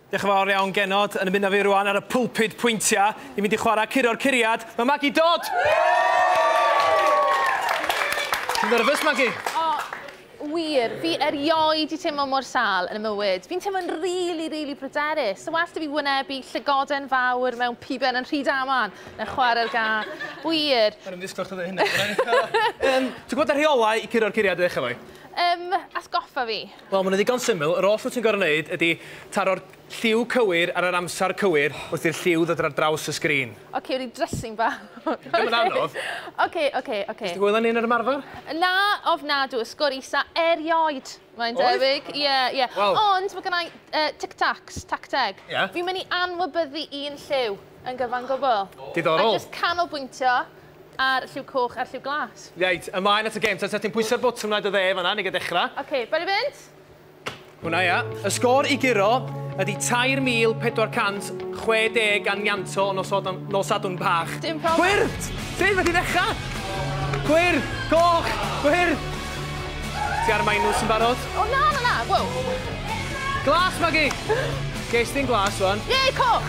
Diolch yn fawr iawn Genod, yn ymuno fi rwan ar y pulpud pwyntia, ni'n mynd i chwarae curo'r curiad, mae Maggie Dodd! Ti'n nerfus Maggie? O, wir, fi erioed di teimlo mor sal yn y mywyd. Fi'n teimlo'n rili, rili pryderus. Sa well da fi wynebu llygoden fawr mewn piben yn rhy daman na chwarae'r ga. Wir. Yn ymddisgwyl chdi ddeud hynna. Ti'n gwybod y rheolau i curo'r curiad i ddechrau efo i? Yym, atgoffa fi. Wel, mae'n ddigon syml. Yr oll wyt ti'n gorfod wneud ydy taro'r lliw cywir ar yr amser cywir wrth i'r lliw ddod ar draws y sgrin. Ocê, ryw dressing bach. Ddim yn anodd. Ocê, ocê, ocê. Nes di hwyl â ni yn yr ymarfer? Na, ofnadw. Y sgôr isa erioed, mae'n debyg. Oedd? Ie, ie. Wel. Ond mae gynna i Tic Tacs, tacteg. Ie? Fi'n mynd i anwybyddu un lliw yn gyfan gwbl. Diddorol. A jyst canolbwyntio. A'r lliw coch a'r lliw glas. Reit, ymlaen at y gem. Ta, ta ti'n pwyso'r botwm yna i dy dde yn fan'na, ni ga dechrau. Oce, okay, bali fynd. Hwna ia. Y sgôr i guro ydy 3,460 ganianto o nosodan, nosadwn bach. Dim problem. Gwyrdd! Sut fe ti'n ddechrau? Gwyrdd! Coch! Gwyrdd! Ti ar minws yn barod? O na, na, na, wow. Glas, Maggie! Ges ti'n glas, wan. Ie, coch!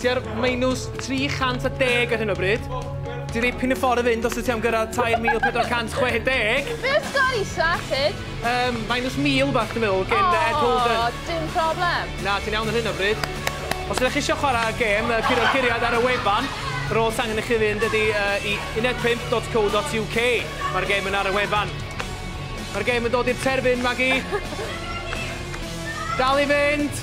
Tua'r minws 310 ar hyn o bryd. Dyw dipyn o ffordd i fynd os wyt ti am gyrraedd 3460. Be oedd sgôr isa, Sid? Yym, minws 1000 bach dwi'n meddwl gen Ed Holden. O, dim problem. Na, ti'n iawn ar hyn o bryd. Os ydych chi eisiau chwarae gêm yy curo'r curiad ar y wefan, yr oll sy'n angen i chi fynd ydy yy i unedpump.co.uk. Mae'r gêm yn ar y wefan. Mae'r gêm yn dod i'r terfyn, Magi. Dal i fynd!